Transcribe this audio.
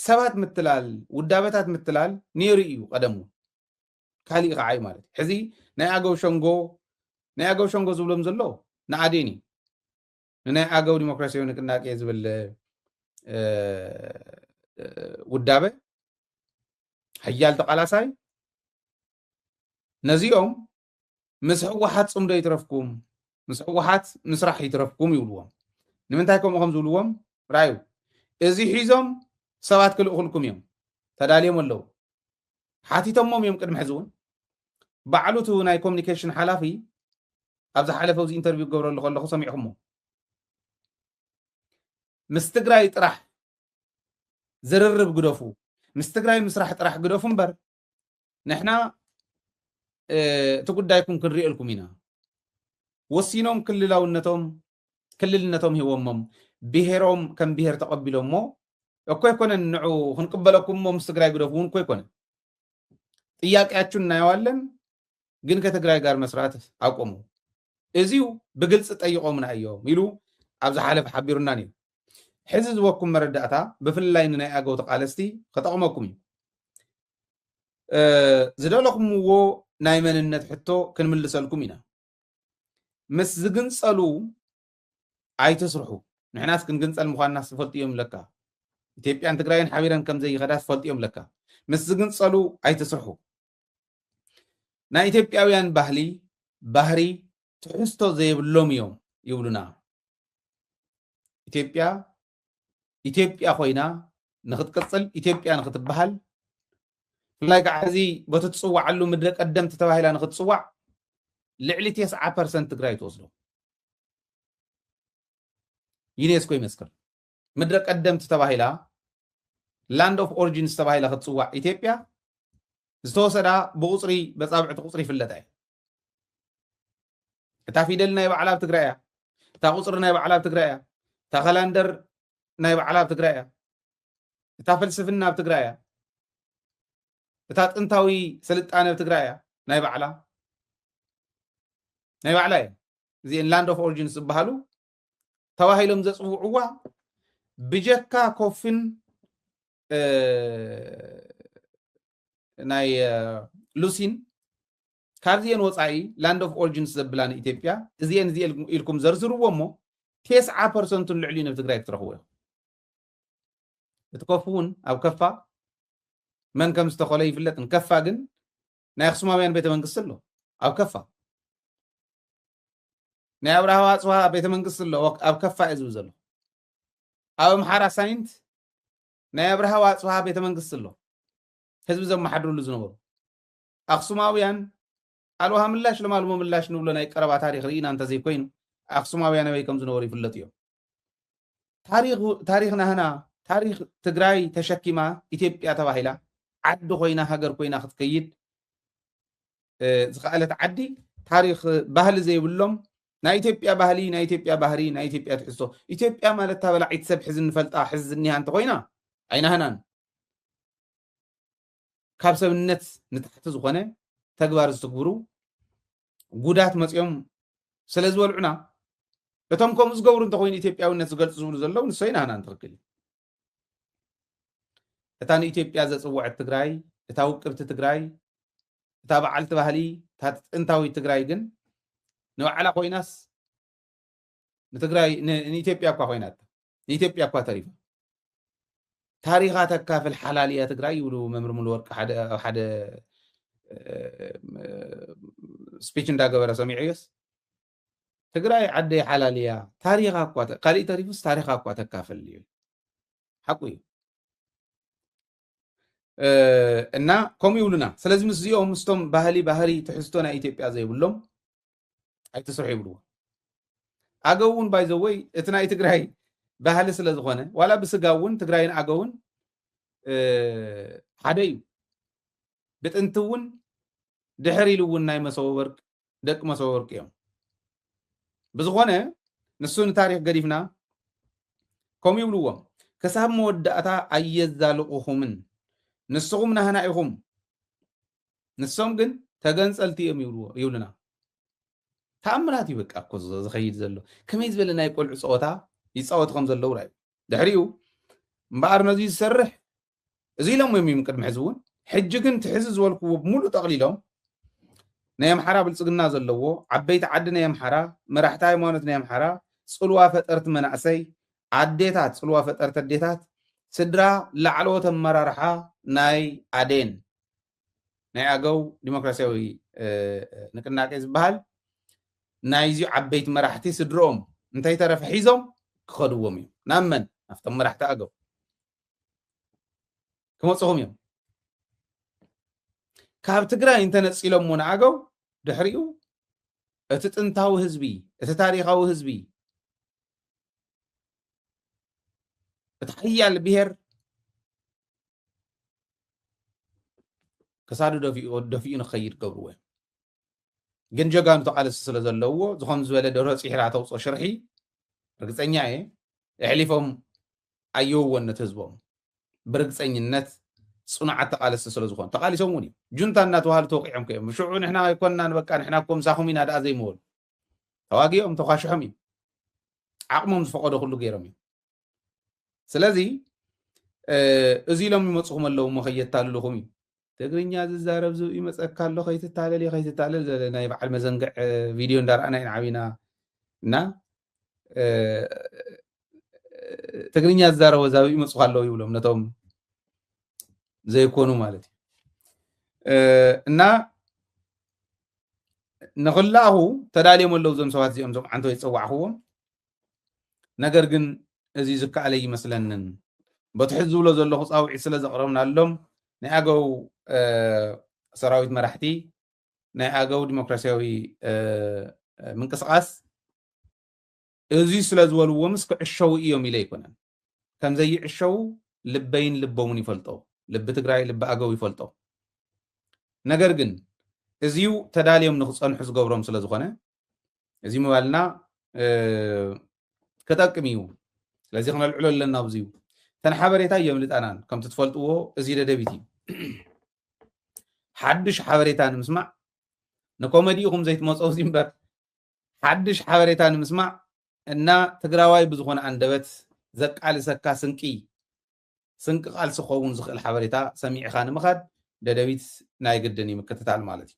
ሰባት ምትላል ውዳበታት ምትላል ነይሩ እዩ ቀደም እውን ካሊእ ከዓ እዩ ማለት እዩ ሕዚ ናይ ኣገው ሸንጎ ናይ ኣገው ሸንጎ ዝብሎም ዘሎ ንኣዴን እዩ ንናይ ኣገው ዲሞክራሲያዊ ንቅናቄ ዝብል ውዳበ ሓያል ተቃላሳይ ነዚኦም ምስ ህወሓት ፅምዶ ይትረፍኩም ምስ ህወሓት ምስራሕ ይትረፍኩም ይብልዎም ንምንታይ ከምኡ ከም ዝብልዎም ራዩ እዚ ሒዞም ሰባት ክልእኹልኩም እዮም ተዳልዮም ኣለዉ ሓቲቶሞም እዮም ቅድሚ ሕዚ እውን ባዕሉ እቲ ናይ ኮሚኒኬሽን ሓላፊ ኣብ ዝሓለፈ እዚ ኢንተርቪው ክገብረሉ ከለኹ ሰሚዕኹሞ ምስ ትግራይ ጥራሕ ዝርርብ ግደፉ ምስ ትግራይ ምስራሕ ጥራሕ ግደፉ እምበር ንሕና እቲ ጉዳይኩም ክንሪኤልኩም ኢና ወሲኖም ክልላውነቶም ክልልነቶም ሂቦሞም ብሄሮም ከም ብሄር ተቐቢሎሞ እኮ ኣይኮነን ንዑ ክንቅበለኩም ሞ ምስ ትግራይ ግደፉ እውን እኮ ኣይኮነን ጥያቄያችሁን እናየዋለን ግን ከትግራይ ጋር መስራት ኣቆሙ እዚው ብግልፂ ጠይቆምና እዮም ኢሉ ኣብ ዝሓለፈ ሓቢሩና ነይሩ ሕዚ ዝበኩም መረዳእታ ብፍላይ ንናይ ኣገው ተቃለስቲ ክጠቅመኩም እዩ። ዝደለኹምዎ ናይ መንነት ሕቶ ክንምልሰልኩም ኢና። ምስ ዝግንጸሉ ኣይትስርሑ። ንሕናስ ክንግንጸል ምዃንናስ ዝፈልጡ እዮም ለካ። ኢትዮጵያን ትግራይን ሓቢረን ከምዘይኸዳስ ፈልጥዮም ለካ። ምስ ዝግንጸሉ ኣይትስርሑ። ናይ ኢትዮጵያውያን ባህሊ ባህሪ ትሕዝቶ ዘይብሎም እዮም ይብሉና ኢትዮጵያ ኢትዮጵያ ኮይና ንክትቅፅል ኢትዮጵያ ንክትበሃል ብፍላይ ከዓ እዚ በቲ ትፅዋዓሉ ምድረ ቀደምቲ ተባሂላ ንክትፅዋዕ ልዕሊ ቴስዓ ፐርሰንት ትግራይ ትወስዶ ዩኔስኮ ይመስክር ምድረ ቀደምት ተባሂላ ላንድ ኦፍ ኦሪጂንስ ተባሂላ ክትፅዋዕ ኢትዮጵያ ዝተወሰዳ ብቁፅሪ በፃብዕቲ ቁፅሪ ይፍለጣ እዩ እታ ፊደል ናይ ባዕላ ኣብ ትግራይ እያ እታ ቁፅሪ ናይ ባዕላ ኣብ ትግራይ እያ እታ ከላንደር ናይ ባዕላ ኣብ ትግራይ እያ እታ ፍልስፍና ኣብ ትግራይ እያ እታ ጥንታዊ ስልጣነ ኣብ ትግራይ እያ ናይ ባዕላ ናይ ባዕላ እየ እዚአን ላንድ ኦፍ ኦሪጂንስ ዝበሃሉ ተባሂሎም ዘፅውዕዋ ብጀካ ኮፍን ናይ ሉሲን ካብዚኤን ወፃኢ ላንድ ኦፍ ኦሪጅንስ ዘብላ ንኢትዮጵያ እዚኤን እዚ ኢልኩም ዘርዝርዎ እሞ ቴስዓ ፐርሰንቱን ልዕሊ ናብ ትግራይ ክትረኽቡ ኢኹም እቲ ኮፍ እውን ኣብ ከፋ መን ከም ዝተኸሎ ይፍለጥ ንከፋ ግን ናይ ኣክሱማውያን ቤተ መንግስቲ ኣሎ ኣብ ከፋ ናይ ኣብርሃ ዋፅዋ ቤተ መንግስቲ ኣሎ ኣብ ከፋ እዩ ዝብል ዘሎ ኣብ ኣምሓራ ሳይንት ናይ ኣብርሃ ዋፅዋ ቤተ መንግስቲ ኣሎ ህዝቢ ዘመሓድርሉ ዝነበሩ ኣክሱማውያን ኣልውሃ ምላሽ ለማልሞ ምላሽ ንብሎ ናይ ቀረባ ታሪክ ርኢና እንተዘይኮይኑ ኣክሱማውያን ኣበይ ከም ዝነበሩ ይፍለጡ እዮም ታሪክ ናህና ታሪክ ትግራይ ተሸኪማ ኢትዮጵያ ተባሂላ ዓዲ ኮይና ሃገር ኮይና ክትከይድ ዝኸኣለት ዓዲ ታሪክ ባህሊ ዘይብሎም ናይ ኢትዮጵያ ባህሊ ናይ ኢትዮጵያ ባህሪ ናይ ኢትዮጵያ ትሕዝቶ ኢትዮጵያ ማለት ታበላዒት ሰብ ሕዚ ንፈልጣ ሕዚ ዝኒሃ እንተኮይና ኣይናህናን ካብ ሰብነት ንታሕቲ ዝኾነ ተግባር ዝትግብሩ ጉዳት መፅኦም ስለ ዝበልዑና እቶም ከምኡ ዝገብሩ እንተኮይኑ ኢትዮጵያዊነት ዝገልፁ ዝብሉ ዘለዉ ንሶይ ናህና ንትኽክል እዩ እታ ንኢትዮጵያ ዘፅወዐት ትግራይ እታ ውቅብቲ ትግራይ እታ በዓልቲ ባህሊ እታ ጥንታዊት ትግራይ ግን ንባዕላ ኮይናስ ንትግራይ ንኢትዮጵያ እኳ ኮይናታ ንኢትዮጵያ እኳ ተሪፋ ታሪኻ ተካፍል ሓላል እያ ትግራይ ይብሉ መምህር ሙሉ ወርቂ ሓደ ኣብ ሓደ ስፒች እንዳገበረ ሰሚዐዮስ ትግራይ ዓደይ ሓላል እያ ታሪኻ እኳ ካሊእ ተሪፉስ ታሪኻ እኳ ተካፍል እዩ ሓቁ እዩ እና ከምኡ ይብሉና ስለዚ ምስዚኦም ምስቶም ባህሊ ባህሪ ትሕዝቶ ናይ ኢትዮጵያ ዘይብሎም ኣይትስርሑ ይብልዎ ኣገው እውን ባይዘወይ እቲ ናይ ትግራይ ባህሊ ስለ ዝኾነ ዋላ ብስጋ እውን ትግራይን ኣገውን ሓደ እዩ ብጥንቲ እውን ድሕር ኢሉ እውን ናይ መሰወ ወርቅ ደቂ መሰወ ወርቅ እዮም ብዝኾነ ንሱ ንታሪክ ገዲፍና ከምኡ ይብልዎም ክሳብ መወዳእታ ኣየዛልቑኹምን ንስኹም ናህና ኢኹም ንሶም ግን ተገንጸልቲ እዮም ይብልዎ ይብሉና ተኣምራት እዩ በቃ እኮ ዝኸይድ ዘሎ ከመይ ዝበለ ናይ ቆልዑ ፀወታ ይፃወቱ ከም ዘለዉ ራዩ ድሕሪኡ እምበኣር ነዚ ዝሰርሕ እዚ ኢሎም እዮም እዮም ቅድሚ ሕዚ እውን ሕጂ ግን ትሕዚ ዝበልክዎ ብምሉእ ጠቕሊሎም ናይ ኣምሓራ ብልፅግና ዘለዎ ዓበይቲ ዓዲ ናይ ኣምሓራ መራሕቲ ሃይማኖት ናይ ኣምሓራ ፅልዋ ፈጠርቲ መናእሰይ ኣዴታት ፅልዋ ፈጠርቲ ኣዴታት ስድራ ላዕለዎት ኣመራርሓ ናይ ኣዴን ናይ ኣገው ዲሞክራሲያዊ ንቅናቄ ዝበሃል ናይዚ ዓበይቲ መራሕቲ ስድርኦም እንተይተረፈ ሒዞም ክኸድዎም እዮም ናብ መን ናብቶም መራሕቲ ኣገው ክመፅኹም እዮም ካብ ትግራይ እንተነፂሎሞ ንኣገው ድሕሪኡ እቲ ጥንታዊ ህዝቢ እቲ ታሪካዊ ህዝቢ እቲ ሓያል ብሄር ክሳዱ ደፊኡ ንክኸይድ ገብርዎ እዮም ግን ጀጋኑ ተቓለሲ ስለ ዘለዎ ዝኾም ዝበለ ደሮ ፂሕራ ተውፆ ሽርሒ ርግፀኛ እየ ኣሕሊፎም ኣየውዎን ነቲ ህዝቦም ብርግፀኝነት ፅኑዓት ተቓለሲ ስለ ዝኾኑ ተቓሊሶም እውን እዮም ጁንታ እናተባሃሉ ተወቂዖም ከዮም ሽዑ ንሕና ኣይኮንናን በቃ ንሕና እኮ ምሳኹም ኢና ደኣ ዘይምበሉ ተዋጊኦም ተኳሽሖም እዮም ዓቕሞም ዝፈቐዶ ኩሉ ገይሮም እዮም ስለዚ እዚ ኢሎም ይመፅኹም ኣለዉ እሞ ከየታልልኹም እዩ ትግርኛ ዝዛረብ ዝብኢ መፀካ ኣሎ ከይትታለል እዩ ከይትታለል ዘለ ናይ በዓል መዘንግዕ ቪድዮ እንዳረኣና ኢና ዓብና እና ትግርኛ ዝዛረቦ ዛብኢ መፅኹ ኣለዉ ይብሎም ነቶም ዘይኮኑ ማለት እዩ እና ንክላኣኹ ተዳልዮም ኣለዉ ዞም ሰባት እዚኦም ዞም ዓንቶ ይፀዋዕኽዎም ነገር ግን እዚ ዝከኣል ኣይመስለንን። በቲ ሕዚ ዝብሎ ዘለኹ ጻውዒት ስለ ዘቕረብናሎም ናይ ኣገው ሰራዊት መራሕቲ ናይ ኣገው ዲሞክራሲያዊ ምንቅስቓስ እዚ ስለ ዝበልዎምስ ክዕሸዉ እዮም ኢለ ኣይኮነን። ከም ዘይዕሸዉ ልበይን ልቦምን ይፈልጦ፣ ልቢ ትግራይ ልቢ ኣገው ይፈልጦ። ነገር ግን እዚዩ ተዳልዮም ንክፀንሑ ዝገብሮም ስለ ዝኾነ እዚ ምባልና ክጠቅም እዩ ስለዚ ክነልዕሎ ኣለና ኣብዚ እዩ እተን ሓበሬታ የምልጣናን ከምቲ ትፈልጥዎ እዚ ደደቢት እዩ ሓድሽ ሓበሬታ ንምስማዕ ንኮመዲ ኢኹም ዘይትመፀው እዚ እምበር ሓድሽ ሓበሬታ ንምስማዕ እና ትግራዋይ ብዝኾነ ኣንደበት ዘቃልሰካ ስንቂ ስንቂ ቃልሲ ክኸውን ዝኽእል ሓበሬታ ሰሚዕኻ ንምኻድ ደደቢት ናይ ግድን ይምክትታል ማለት እዩ